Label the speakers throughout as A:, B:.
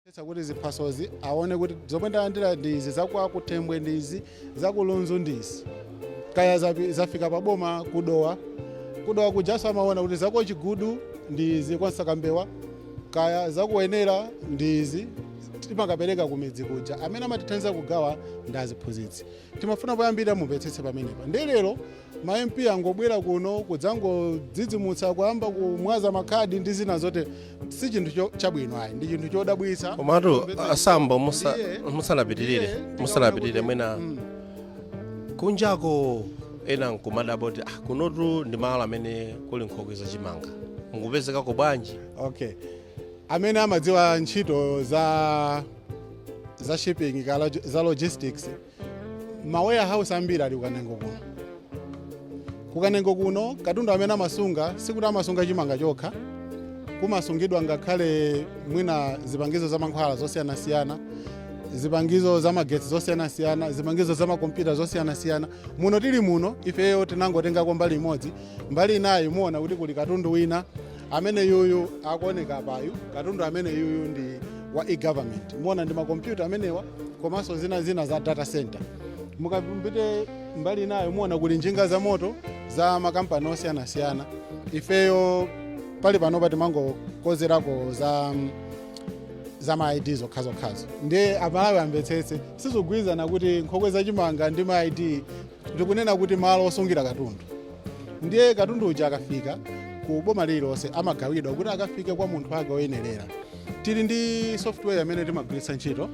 A: kuonetsa kuti ziphasozi aone kuti zomwe ndalandira ndi izi za kwa kunthembwe ndi izi za ku lunzu ndi izi kaya zapi- zafika pa boma ku dowa ku dowa kujanso amaona kuti za ku chigudu ndi izi kwa msakambewa kaya za ku wenela ndi izi timakapereka kumidzi kuja amene amatithandiza kugawa ndi aziphunzitsi timafuna poyambirira mumvetsetse pamenepa ndiye lero ma mp angobwera kuno kudzangodzidzimutsa kuyamba kumwaza makhadi ndi zina zote si chinthu cho- chabwino ayi ndi chinthu chodabwitsa komatu a
B: sambo musanapitirire mwina kunjako ena nkumadabwa kuti ah, kunotu ndi malo amene kuli nkhokwe za chimanga mukupezekako bwanji okay
A: amene amadziwa ntchito za za shipping ka log- za logistics ma warehouse ambiri ali ku kanengo kuno ku kanengo kuno katundu amene amasunga sikuti amasunga chimanga chokha kumasungidwa ngakhale mwina zipangizo za mankhwala zosiyanasiyana zipangizo za magetsi zosiyanasiyana zipangizo za makompyuta zosiyanasiyana muno tili muno ifeyo tinangotengako mbali imodzi mbali inayo muona kuti kuli katundu wina amene yuyu akuoneka apayu katundu amene yuyu ndi wa e-government muona ndi makompyuta amenewa komanso zina zina za data center mukapite mbali inayo muona kuli njinga za moto za makampani osiyanasiyana ifeyo pali panopa timangokozerako za mm, za ma id zokhazokhazo ndiye amalawi amvetsetse sizikugwirizana kuti nkhokwe zachimanga ndi ma id ndikunena kuti malo osungira katundu ndiye katundu uja akafika ku boma lililonse amagawidwa kuti akafike kwa munthu wake woyenerera tili ndi software imene timagwiritsa ntchito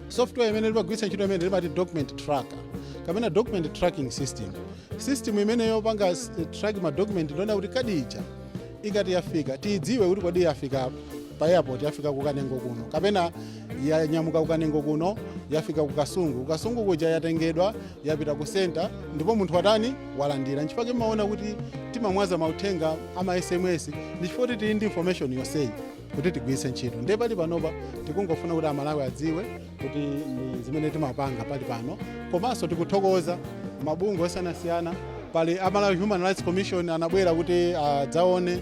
A: software imene timagwiritsa ntchito imene timati document tracker kapena document tracking system system imene yopanga s- track ma document ndiona kuti kadi ija ikati yafika tiyidziwe kuti kodi yafika pa airport yafika ku kanengo kuno kapena yanyamuka ku kanengo kuno yafika ku kasungu ku kasungu kuja yatengedwa yapita ku senta ndipo munthu watani walandira nchifukwa chake mumaona kuti timamwaza mauthenga ama sms ndi chifukwa kuti tili ndi information yonseyi kuti tigwiritse ntchito ndiye pali panopa tikungofuna kuti amalawi adziwe kuti ndi zimene timapanga pali pano komanso tikuthokoza mabungwe osiyanasiyana pali a malawi human rights commission anabwera kuti adzaone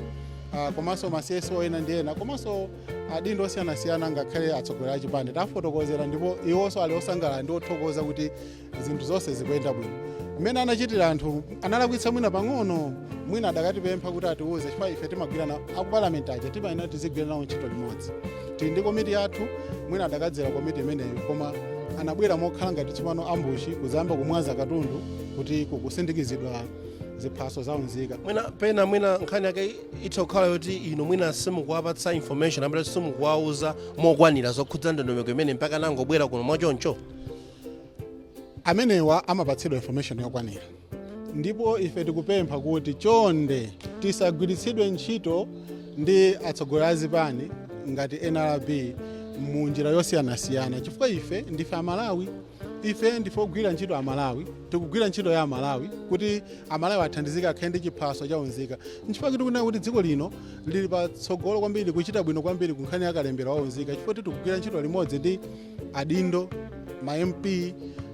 A: ah, komanso ma cso ena ndi ena komanso adindo osiyanasiyana ngakhale atsogoleri a chipani tafotokozera ndipo iwonso ali osangalala ndi othokoza kuti zinthu zonse zikuyenda bwino mmene anachitira anthu analakwitsa mwina pang'ono mwina akadatipempha kuti atiwuze chifukwa ife timagwira nawo akupalamenti aja timayenera tizigwira nawo ntchito limodzi tili ndi komiti yathu mwina akadadzera komiti imeneyo koma anabwera mokhala ngati tsopano ambushi kuzayamba kumwaza katundu kuti kukusindikizidwa ziphaso za unzika mwina pena mwina
B: nkhani yake itha kukhala yoti inu mwina simukuwapatsa information mwina simukuwauza mokwanira zokhudza ndondomeko imene mpaka anangobwera kuno mwachoncho amenewa
A: amapatsidwa information yokwanira ndipo ife tikupempha kuti chonde tisagwiritsidwe ntchito ndi atsogoleri a zipani ngati nrb mu njira yosiyanasiyana chifukwa ife ndife amalawi ife ndife ogwira ntchito amalawi tikugwira ntchito ya amalawi kuti amalawi athandizike akhale ndi chiphaso chaunzika nchifukwa tikunena kuti dziko lino lili patsogolo kwambiri kuchita bwino kwambiri kunkhani ya kalembera waunzika chifukwa choti tikugwira ntchito limodzi ndi adindo ma mp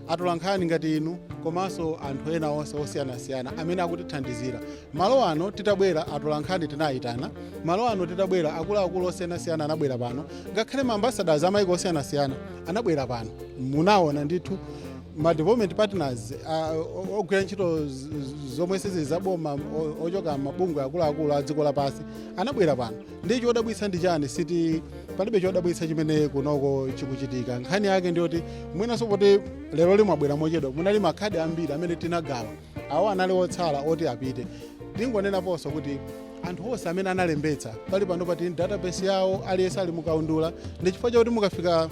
A: atolankhani ngati inu komanso anthu ena onse osiyanasiyana amene akutithandizira Malo ano titabwera atolankhani tinayitana, malo ano titabwera akuluakulu osiyanasiyana anabwera pano, ngakhale ma ambassadors a maiko osiyanasiyana anabwera pano. Munawona ndithu ma development partners ah, o- ogwira ntchito z- z- zomwe sizili za boma o- ochoka mabungwe akuluakulu a dziko lapansi anabwera pano. Ndi chodabwitsa ndi chani si choti palibe chodabwitsa chimene kunoko chikuchitika. Nkhani yake ndiyoti mwinanso poti lero lino mwabwera mochedwa munali makhadi ambiri amene tinagawa awo anali otsala oti apite tingonenaponso kuti anthu onse amene analembetsa pali panopa tili database yawo aliyense ali mukaundula ndi chifukwa chake mukafika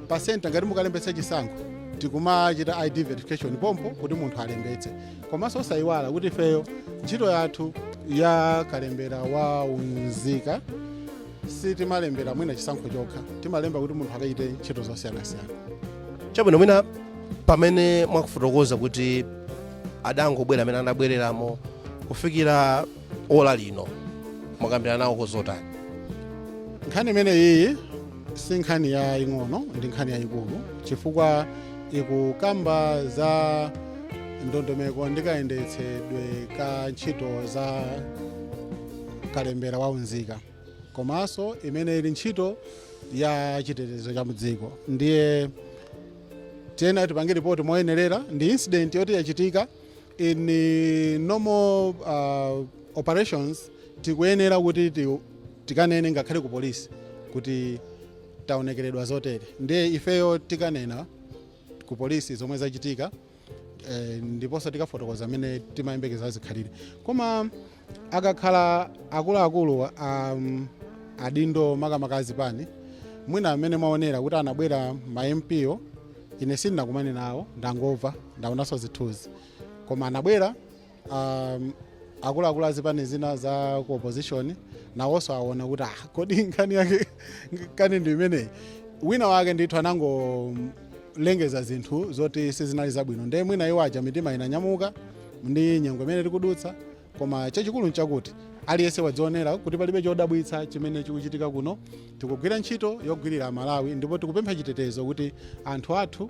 A: pa center ngati mukulembetsa chisankho tikumachita id verification pompo kuti munthu alembetse komanso osayiwala kuti ifeyo ntchito yathu ya kalembera wa unzika sitimalembera mwina chisankho chokha timalemba kuti munthu akachite ntchito zosiyanasiyana
B: chabwino mwina pamene mukufotokoza kuti adangobwera amene anabwereramo kufikira ola lino mwakambirana nawo
A: kozotani nkhani imeneyiyi si nkhani yaing'ono ndi nkhani yayikulu chifukwa ikukamba za ndondomeko ndi kayendetsedwe ka ntchito za kalembera wa unzika komanso imene ili ntchito ya chitetezo cha mudziko ndiye tiyenera tipange ripoti moyenerera ndi incident yoti yachitika in eh, normal uh, operations tikuyenera kuti ti- tikanene ngakhale ku polisi kuti taonekeredwa zotere ndiye ifeyo tikanena ku polisi zomwe zachitika eh, ndiponso tikafotokoza amene timayembekeza zikhalire koma akakhala akuluakulu um, adindo makamaka a zipani mwina amene mwaonera kuti anabwera ma MP ine sindinakumane nawo ndangomva ndaonanso zithunzi koma anabwera um, akuluakulu a zipani zina za ku opposition nawonso aona kuti ah, kodi nkhani yake kani ndi imeneyi wina wake ndithu anangolengeza zinthu zoti sizinali zabwino ndiye mwina iwo aja mitima inanyamuka ndi nyengo imene tikudutsa koma chachikulu nchakuti aliyense wadzionera kuti palibe chodabwitsa chimene chikuchitika kuno tikugwira ntchito yogwirira aMalawi ndipo tikupempha chitetezo kuti anthu athu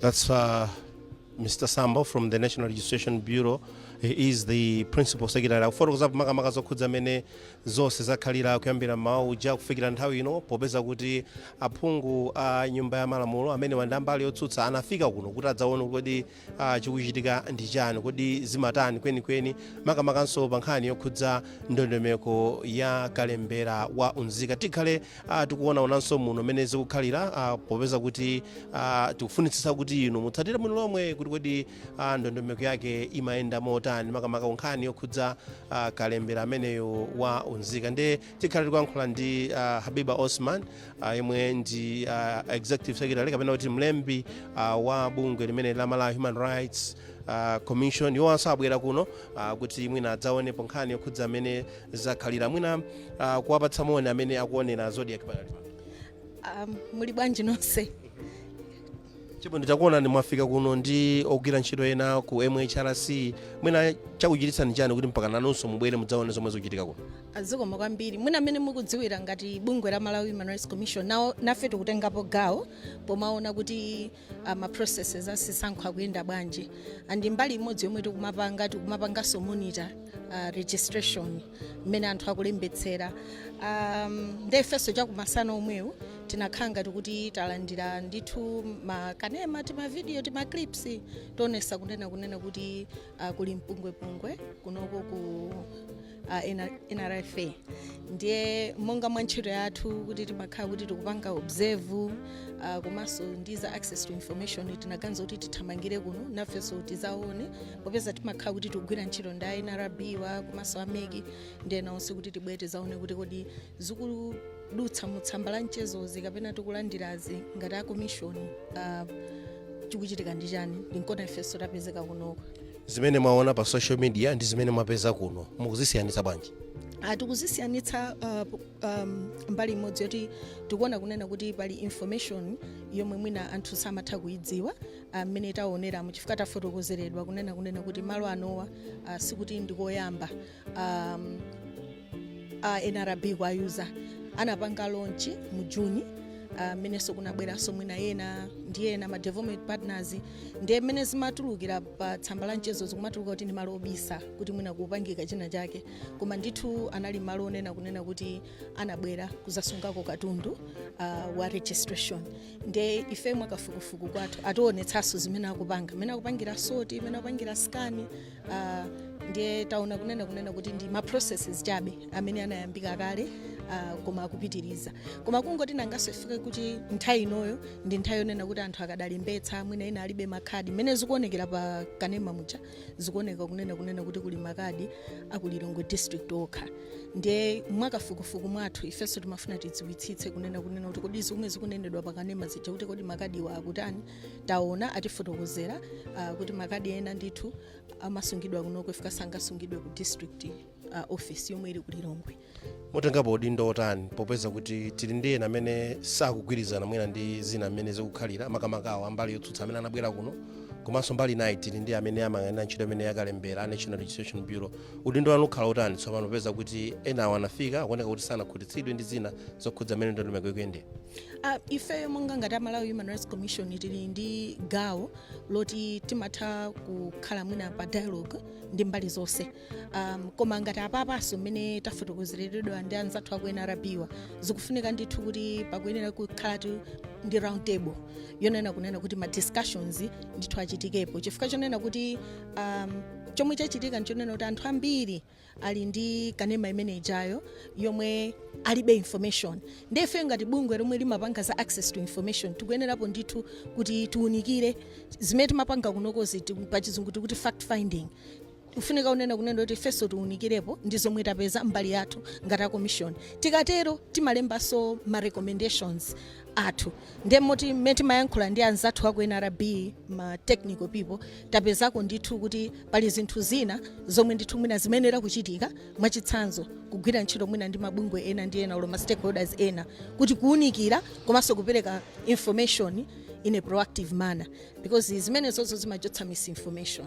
B: That's uh, Mr. Sambo from the National Registration Bureau. He is the principal secretary. Akufotokoza makamaka zokhudza mmene zonse zakhalira kuyambira mmawa uja kufikira nthawi ino popeza kuti aphungu a nyumba ya malamulo amene ndi a mbali yotsutsa anafika kuno kuti adzaone kodi Ah, chikuchitika ndi chani kodi zimatani kwenikweni makamakanso pa nkhani yokhudza ndondomeko ya kalembera wa unzika tikhale ah, tikuonaonanso muno mmene zikukhalira ah, popeza kuti ah, tikufunitsitsa kuti inu mutsatire bwino lomwe kuti kodi ah, ndondomeko yake imayenda motani makamaka ku nkhani yokhudza ah, kalembera ameneyo wa unzika nde tikhala tikuyankhula ndi uh, habiba osman uh, yemwe ndi uh, executive secretary kapena kuti mlembi uh, wa bungwe limene la malawi human rights uh, commission iwonso abwera kuno uh, kuti mwina adzaonepo nkhani yokhudza mmene zakhalira mwina uh, kuwapatsa moni amene akuonera Zodiak pakati pano. Um,
C: muli bwanji nonse
B: Tili bwino takuonani mwafika kuno ndi ogwira ntchito ena ku mhrc mwina chakuchititsani chani kuti mpaka nanunso mubwere mudzaone zomwe zikuchitika kuno ah, zikomo kwambiri
C: mwina mmene mukudziwira ngati bungwe la malawi human rights commission nafe tikutengapo gawo pomaona kuti uh, ma processes a zisankho akuyenda bwanji and mbali imodzi yomwe tikumapanga tikumapanganso monitor uh, registration mmene anthu akulembetsera um, nde ifenso chakumasana omwewu tinakhala ngati kuti talandira ndithu makanema tima vidiyo tima clips toonesa kunena kunena kuti uh, kuli mpungwepungwe kunoko ku uh, N- nrfa ndiye monga mwa ntchito yathu kuti timakhala kuti tikupanga observe uh, komanso ndi za access to information tinaganiza kuti tithamangire kuno nafenso tizaone popeza timakhala kuti tikugwira ntchito ndi a nrb-wa komanso a mec ndi ena onse kuti tibwere tizaone kuti kodi zikudutsa mu tsamba la mchezozi kapena tikulandirazi ngati a commission ah, chikuchitika ndi chani ndi nkona ifenso tapezeka kunoko zimene mwaona
B: pa social media ndi zimene mwapeza kuno mukuzisiyanitsa bwanji Ah, tikuzisiyanitsa
C: ah, um, mbali imodzi yoti tikuona kunena kuti pali information yomwe mwina anthu samatha kuidziwa ah, mmene uh, taoneramo chifukwa tafotokozeredwa kunena kunena kuti malo anowa uh, sikuti ndikoyamba um, a uh, nrb kuayuza anapanga launch mu juni mmenenso uh, kunabweranso mwina ena ndi ena ma development partners ndiye mmene zimatulukira pa tsamba la mchezo zikumatuluka kuti ndi malo obisa kuti mwina kupangika china chake koma ndithu anali malo onena kunena kuti anabwera kuzasungako katundu uh, wa registration nde ife mwakafukufuku kwathu ationetsanso zimene akupanga mmene akupangira sort mmene akupangira scan uh, ndiye taona kunena kunena kuti ndi ma processes chabe amene anayambika kale uh, koma akupitiriza koma kungoti nangaso if kuti nthawi inoyo ndi nthawi yonena kuti anthu akadalembetsa mwina ena alibe makadi mmene zikuonekera pa kanema muja zikuoneka kunena kunena kuti kuli makadi aku lilongwe district okha ndiye mwakafukufuku mwathu ifenso timafuna tidziwitsitse kunena kunena kuti kodi zomwe zikunenedwa pakanema zija kuti kodi makadiwa akutani taona atifotokozera ah, kuti makadi ena ndithu amasungidwa kunoko if sangasungidwe ku district iyi uh, office yomwe ili ku lilongwe mutengapo
B: udindo otani popeza kuti tili ndi ena amene sakugwirizana mwina ndi zina mmene zikukhalira makamakawo ambali yotsutsa amene anabwera kuno komanso mbali nayi tili ndi amene amayang'anira ntchito imeneyi ya kalembera a national registration bureau udindo wanu ukhala otani tsopano popeza kuti enawo anafika akuoneka kuti sanakhutitsidwe ndi zina zokhudza mmene ndondomeko ikuyendera Ah,
C: ifeyo monga ngati a malawi human rights commission tili ndi gawo loti timatha kukhala mwina pa dialogue ndi mbali zonse um, koma ngati apapanso mmene tafotokozeredwa ndi anzathu aku nrb-wa zikufunika ndithu kuti pakuyenera kukhala ndi round table yonena kunena kuti ma discussions ndithu achitikepo chifukwa chonena kuti um, chomwe chachitika nchonena kuti anthu ambiri ali ndi kanema imene ijayo yomwe alibe information ndefe ngati bungwe lomwe limapanga za access to information tikuyenerapo ndithu kuti tiunikire zimene timapanga kunokozi ti- pachizungu tikuti fact finding Kufunika kunena kunena kuti ifenso tiunikirepo ndi zomwe tapeza mbali yathu ngati a commission. Tikatero timalembanso ma recommendations athu ndiye moti mmene timayankhula ndi anzathu aku NRB ma technical people tapezako ndithu kuti pali zinthu zina zomwe ndithu mwina zimayenera kuchitika mwachitsanzo kugwira ntchito mwina ndi mabungwe ena ndi ena olo ma stakeholders ena kuti kuunikira komanso kupereka information in a proactive manner because zimenezozo zimachotsa misinformation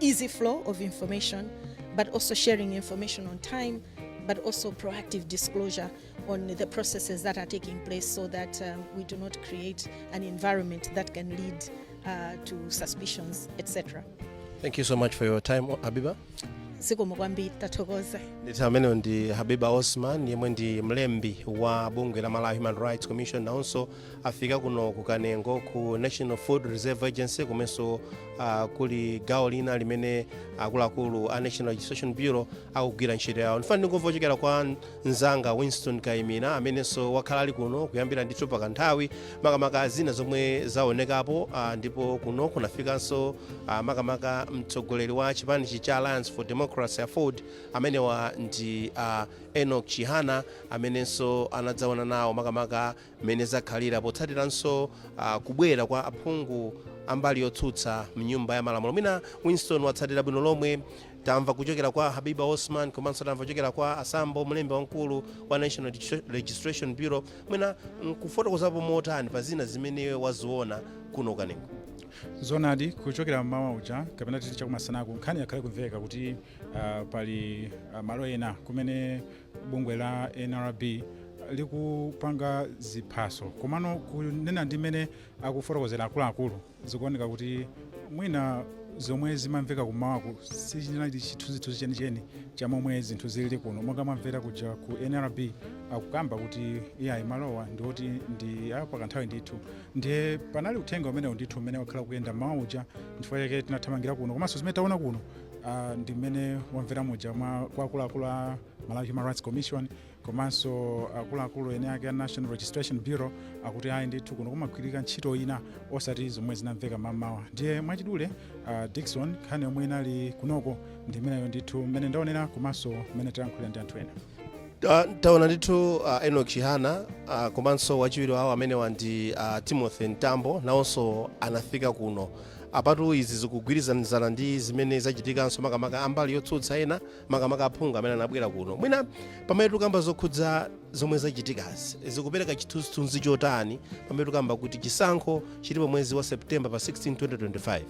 C: easy flow of information, but also sharing information on time, but also proactive disclosure on the processes that are taking place so that um, we do not create an environment that can lead uh, to suspicions, etc. Thank you so much
B: for your time, Habiba. zikomo
C: kwambiri tathokoza nditha ameneyo ndi
B: habiba osman yemwe ndi mlembi wa bungwe la malawi human rights commission nawonso afika kuno ku kanengo ku national food reserve agency komanso uh, kuli gawo lina limene akuluakulu a national registration bureau akugwira ntchito yawo ndifuna ndingomva kuchokera kwa mzanga winston kaimira amenenso wakhala ali kuno kuyambira ndithu pa kanthawi makamaka zina zomwe zaonekapo uh, ndipo kuno kunafikanso uh, makamaka mtsogoleri wa chipani cha alliance for democracy aford amenewa ndi uh, enok chihana amenenso anadzaona nawo makamaka Mmene zakhalira potsatiranso kubwera kwa aphungu a mbali yotsutsa mnyumba ya malamulo mwina Winston watsatira bwino lomwe. Tamva kuchokera kwa Habiba Osman komanso tamva kuchokera kwa a Sambo, mlembi wamkulu wa National Registration Bureau. Mwina nkufotokozapo motani pa zina zimene iwe waziona kuno ku Kanengo? Zoonadi,
D: kuchokera mmawa uja kapena titi chakumasanaku nkhani yakhala ikumveka kuti ah, pali ah, malo ena kumene bungwe la nrb likupanga ziphaso komano kunena ndi mmene akufotokozera akuluakulu zikuoneka kuti mwina zomwe zimamveka kummawaku sichinali chithunzithunzi chenicheni cha momwe zinthu zilili kuno monga mwamvera kuja ku nrb akukamba kuti iyayi malowa ndioti ndi apakanthawi ndithu ndiye panali uthenga umenewu ndithu umene wakhala ukuyenda mmawa uja chifukwa chake tinathamangira kuno komanso zimene taona kuno uh, ndi mmene wamvera muja mwa kwa akuluakulu a malawi human rights commission komanso akuluakulu ene ake a national registration bureau akuti ayi ndithu kuno kumagwirika ntchito ina osati zomwe zinamveka mmamawa ndiye mwachidule uh, dikson nkhani yomwe inali kunoko ndi imeneyo ndithu mmene ndaonera komanso mmene tayankhulira ndi anthu ena Ta-
B: taona ndithu uh, enok chihana uh, komanso wachiwiri wawo amenewa ndi uh, timothy mtambo nawonso anafika kuno Apatu izi zikugwirizanizana ndi zimene zachitikanso makamaka ambali yotsutsa ena makamaka aphungu amene anabwera kuno. Mwina pamene tikukamba zokhudza zomwe zachitikazi, zikupereka chithunzithunzi chotani pamene tikukamba kuti chisankho chilipo mwezi wa September pa 16 2025?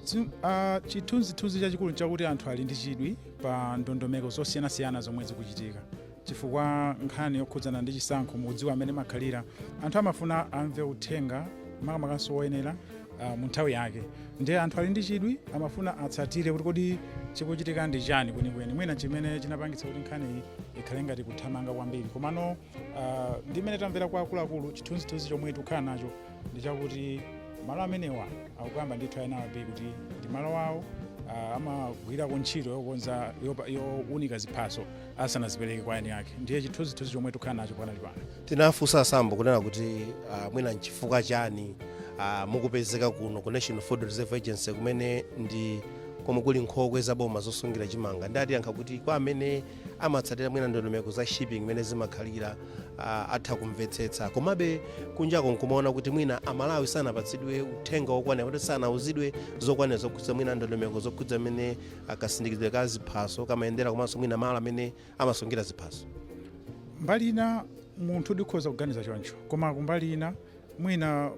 B: Dzi, a, chithunzithunzi
D: chachikulu nchakuti anthu ali ndi chidwi pa ndondomeko zosiyanasiyana zomwe zikuchitika chifukwa nkhani yokhudzana ndi chisankho mukudziwa mmene imakhalira anthu amafuna amve uthenga makamakanso woyenera ah, mu nthawi yake ndiye anthu ali ndi chidwi amafuna atsatire kuti kodi chikuchitika ndi chani kwenikweni mwina chimene chinapangitsa kuti nkhaniyi ikhale ngati kuthamanga kwambiri komano ah, ndi mmene tamvera kwa akuluakulu chithunzithunzi chomwe tikukhala nacho ndi chakuti malo amenewa akukamba ndithu a nrb kuti ndi malo awo ah, amagwirako ntchito yokonza yopa- yowunika ziphaso asanazipereke kwa eni ake ndiye chithunzithunzi chomwe tikukhala nacho pakanali pano tinafunsa a
B: sambo kunena kuti uh, mwina nchifukwa chani uh, mukupezeka kuno ku national food reserve agency kumene ndi komwe kuli nkhokwe za boma zosungira chimanga nde atiyankha kuti kwa amene amatsatira mwina ndondomeko za shipping mmene zimakhalira uh, atha kumvetsetsa komabe kunjako nkumaona kuti mwina amalawi sanapatsidwe uthenga wokwanira kuti sanauzidwe zokwanira zokhudza mwina ndondomeko zokhudza mmene a kasindikizidwe ka ziphaso kamayendera komanso mwina malo amene amasungira ziphaso
D: mbali ina munthu ukhoza kuganiza choncho koma kumbali ina mwina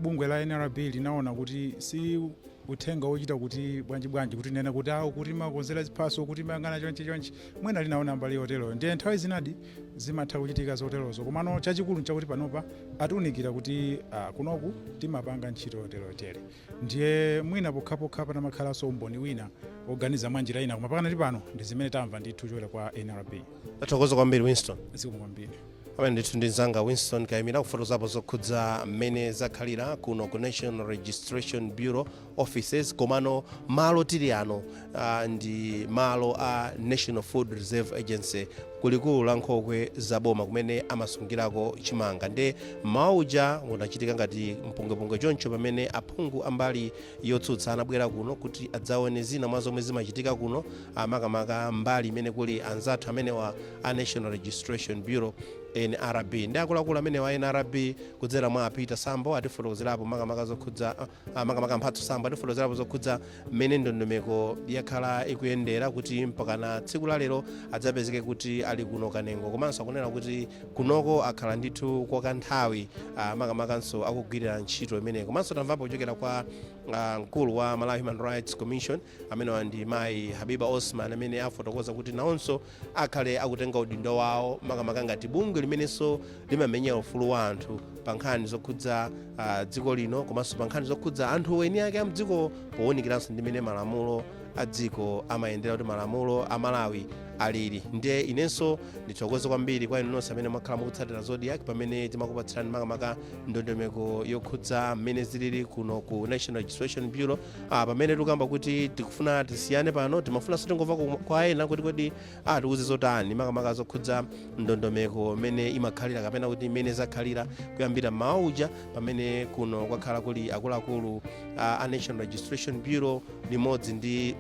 D: bungwe la nrb linaona kuti si uthenga wochita kuti bwanji bwanji kuti nena kuti awo kuti makonzera ziphaso kuti mayang'ana chonchi chonchi mwina linaona mbali yoteroyo ndiye nthawi zinadi zimatha kuchitika zoterozo komano chachikulu nchakuti panopa atiunikira kuti ah, kunoku timapanga ntchito yoteroyotere Ndiye mwina pokhapokha patamakhalanso umboni wina woganiza mwanjira ina, koma pakanali pano ndi zimene tamva ndithu kuchokera kwa nrb. Tathokoza kwambiri
B: Winston. Zikomo kwambiri.
D: Amene ndithu
B: ndi mzanga Winston Kaimira kufotokozapo zokhudza mmene zakhalira kuno ku National Registration Bureau offices komano malo tili ano Ah, ndi malo a National Food Reserve Agency kulikulu la nkhokwe za boma kumene amasungirako chimanga nde mmawawu uja unachitika ngati mpungwepungwe choncho pamene aphungu ambali yotsutsa anabwera kuno kuti adzaone zina mwa zomwe zimachitika kuno ah, makamaka mbali imene kuli anzathu amenewa a National Registration Bureau nrb nde akuluakulu amenewa a nrb kudzera mwa a peter sambo atifotokozerapo makamaka zokhudza ah, Ah, makamaka mphatso sambo atifotokozerapo zokhudza mmene ndondomeko yakhala ikuyendera kuti mpakana tsiku la lero adzapezeke kuti ali kuno kanengo komanso akunena kuti kunoku akhala ndithu kwa kanthawi ah, makamakanso akugwirira ntchito imeneyi komanso tamvapo kuchokera kwa ah, mkulu wa malawi human rights commission amenewa ndi mayi habiba osman amene afotokoza kuti nawonso akhale akutenga udindo wawo makamaka ngati bungwe limenenso limamenyera ufulu wa anthu pa nkhani zokhudza ah, dziko lino komanso pa nkhani zokhudza anthu eni ake a mdziko powunikiranso ndi mmene malamulo a dziko amayendera kuti malamulo a malawi alili ndiye inenso ndithokoze kwambiri kwa inu nonse amene mwakhala mukutsatira zodiak pamene timakupatsirani makamaka ndondomeko yokhudza mmene zilili kuno ku national registration bureau Ah, pamene tikukamba kuti tikufuna tisiyane pano timafunanso tingomva ku- kwa ena kuti kodi atiuze zotani makamaka zokhudza ndondomeko mmene imakhalira kapena kuti mmene zakhalira kuyambira mmawa uja pamene kuno kwakhala kuli akuluakulu ah, a national registration bureau limodzi ndi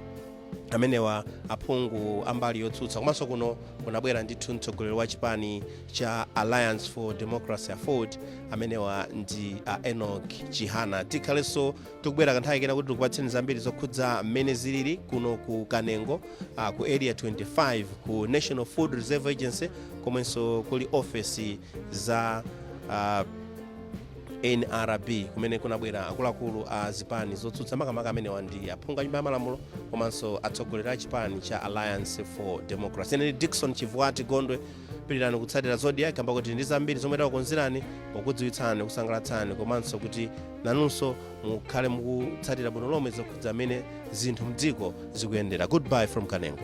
B: amenewa aphungu ambali yotsutsa komanso kuno kunabwera ndithu mtsogoleri wa chipani cha alliance for democracy aford amenewa ndi a enoch chihana tikhalenso tikubwera kanthawi kena kuti tikupatseni zambiri zokhudza mmene zilili kuno ku kanengo ah, ku area 25 ku national food reserve agency komwenso kuli ofesi za ah, nrb kumene kunabwera akuluakulu a zipani zotsutsa makamaka amenewa ndi aphungu a nyumba ya malamulo komanso atsogoleri a chipani cha alliance for democracy ine ndi Dickson Chivuwati gondwe pitirizani kutsatira Zodiak kamba kuti ndi zambiri zomwe takukonzerani pokudziwitsani kusangalatsani komanso kuti nanunso mukhale mukutsatira bwino lomwe zokhudza mmene zinthu mdziko zikuyendera goodbye from kanengo